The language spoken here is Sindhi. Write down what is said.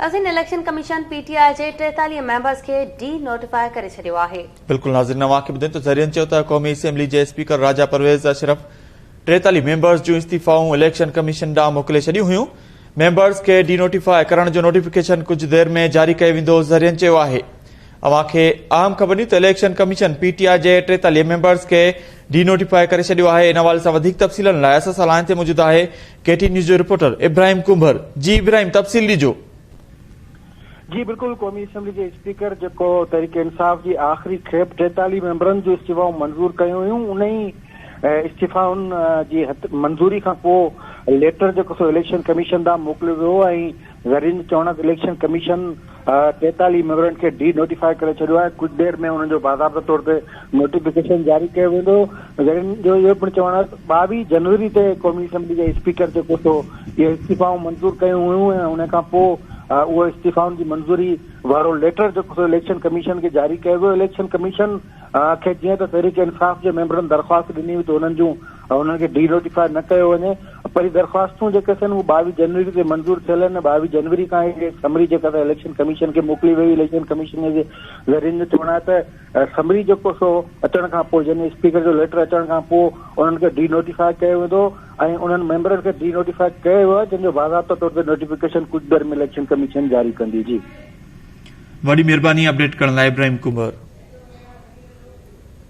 اسين election commission P T I جي ٽيتاليهه ميمبرز کي ڊي نوٽيفاء ڪري ڇڏيو آهي. بلڪل ناظرين اوهان کي ٻڌين ته ذريعن چيو ته قومي اسيمبلي جي اسپيڪر راجا پرويز اشرف ٽيتاليهه ميمبرز جون استعيفائون اليڪشن ڪميشن ڏانهن موڪلي ڇڏيون هيون ميمبرز کي ڊي نوٽيفاء ڪرڻ جو نوٽيفڪيشن ڪجهه دير ۾ جاري ڪيو ويندو ذريعن چيو آهي اوهان کي اهم خبر ڏيون ته election commission P T I جي ٽيتاليهه ميمبرز کي ڊي نوٽيفاء ڪري ڇڏيو آهي ان حوالي سان وڌيڪ تفصيلن لاء اسان سان لائن تي موجود آهي ڪي ٽي نيوز جو رپورٽر ابراهيم ڪنڀر جي ابراهيم تفصيل ڏجو. جي بلڪل قومي اسيمبلي جي اسپيڪر جيڪو تحريڪ انصاف جي آخري کيپ ٽيتاليهه ميمبرن جون استعفائون منظور ڪيون هيون ان ئي استعفائن جي منظوري کانپوء ليٽر جيڪو سو اليڪشن ڪميشن ڏانهن موڪليو ويو ۽ زرين چوڻڪ اليڪشن ڪميشن ٽيتاليهه ميمبرن کي ڊي نوٽيفاء ڪري ڇڏيو آهي، ڪجهه دير ۾ انهن جو باضابطه طور تي نوٽيفڪيشن جاري ڪيو ويندو، زرين جو اهو پڻ چوڻ آهي ته ٻاويهه جنوري تي قومي اسيمبلي جي اسپيڪر جيڪو ٿو اهي استعيفائون منظور ڪيون هيون ۽ ان کان پوء اهو استعيفائن جي منظوري وارو ليٽر جيڪو سو اليڪشن ڪميشن کي جاري ڪيو ويو، اليڪشن ڪميشن کي جيئن ته تحريڪ انصاف جي ميمبرن درخواست ڏني هئي ته انهن جون انهن کي ڊي نوٽيفاء نه ڪيو وڃي پر هي درخواستون جيڪي ٿين اهي ٻاويهه جنوري تي منظور ٿيل آهن ٻاويهه جنوري کان هي سمري جيڪا ته اليڪشن ڪميشن کي موڪلي وئي اليڪشن ڪميشن جي ذريعن جو چوڻ آهي ته سمري جيڪو سو اچڻ کان پوء يعني اسپيڪر جو ليٽر اچڻ کان پوء انهن کي ڊي نوٽيفاء ڪيو ويندو ۽ انهن ميمبرن کي ڊي نوٽيفاء ڪيو ويو آهي جن جو باضابطه طور تي نوٽيفڪيشن ڪجهه دير ۾ اليڪشن ڪميشن جاري ڪندي جي وڏي مھرباني اپڊيٽ ڪرڻ لاء ابراهيم ڪنڀر.